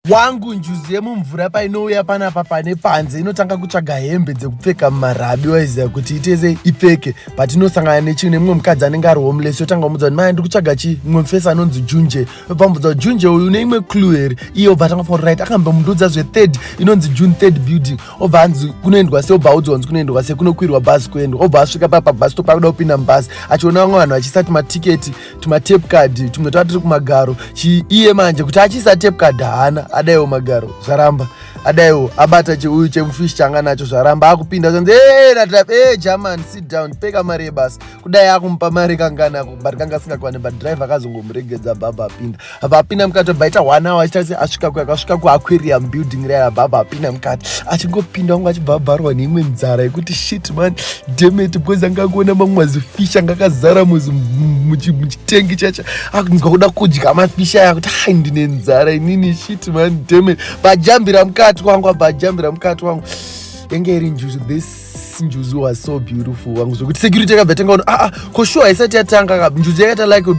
wangu njuzu yemumvura painouya panapa pane panze inotanga kutsvaga hembe dzekupfeka mumarabi waiziva kuti itese ipfeke but inosangana nechii nemumwe mukadzi anenge ari homeless yotanga kumudza kuti maya ndiri kutsvaga chii mumwe mufesi anonzi junje pamudza junje uyu une imwe clue here iye obva atanga for right akamba mundudza zvethird inonzi june third building obva anzi kunoendwa se obva audzwa nzi kunoendwa se kunokwirwa bhazi kuendwa obva asvika papa bhazi topa kuda kupinda mubhazi achiona vamwe vanhu vachisati matiketi tumatape card tumwe tava tiri kumagaro iye manje kuti achiisa tape card haana adaiwo magaro zvaramba adaiwo abata cheuyu chemufish changa nacho zvaramba akupinda zvanzi ee natap ee german sit down peka mari yebasa kudai akumupa mari kangana but kanga asingakwane but drive akazongomuregedza baba apinda vapinda mukati vabva ita one hour achitati asvika ku akasvika kuaquarium building raya vabva abva apinda mukati achingopinda wangu achibva abvarwa neimwe nzara yekuti shit man demet because anga akuona mamwe mazifish anga akazara muchitengi chacho akunzwa kuda kudya mafish aya kuti hai ndine nzara inini shit man demet bajambira mukati wangu abva ajambira mukati wangu yenge iri njuzu this njuzu was so beautiful wangu zvekuti security yakabva tanga kuona aa ah, ah, ko show haisati yatanga ka njuzu yakaita like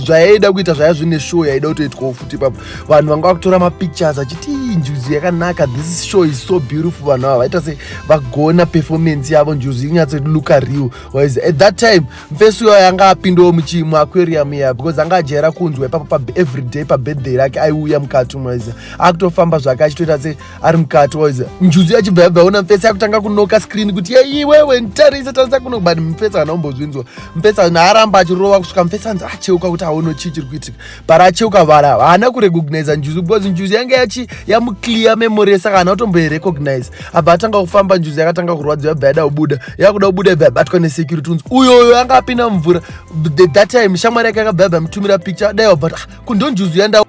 zvayaida kuita zvaya zvine show yaida kutoitwawo futi ipapo vanhu vanga vakutora mapictures achiti njuzu yakanaka this show is so beautiful vanhu ava vaita se vagona performance yavo njuzu inyatso luka real wise at that time mfesu yo yanga apindawo muchimu aquarium iya because anga ajaira kunzwa ipapo everyday pabirthday rake aiuya mukati mwaiza akutofamba zvake achitoita se ari mukati waiza njuzu yachibva yabva yaona mfesi yakutanga kunoka skrini kuti yeiwewe ntarisa tarisa kuno but mfesi hana umbozvinzwa mfesi naaramba achirova kusvika mfesi anzi acheuka kuti aono chii chiri kuitika bara acheuka vara haana kurecognisa njuzu because njuzu yange yachi yamuclear memory saka hana kutomboirecognize abva atanga kufamba njuzu yakatanga kurwadza yabva yada kubuda yakuda kubuda yabva yabatwa nesecurity unzi uyoyo anga apinda mumvura the that time shamwari yake yakabva yabva yamutumira picture dai wabva ah, kundonjuzu yanda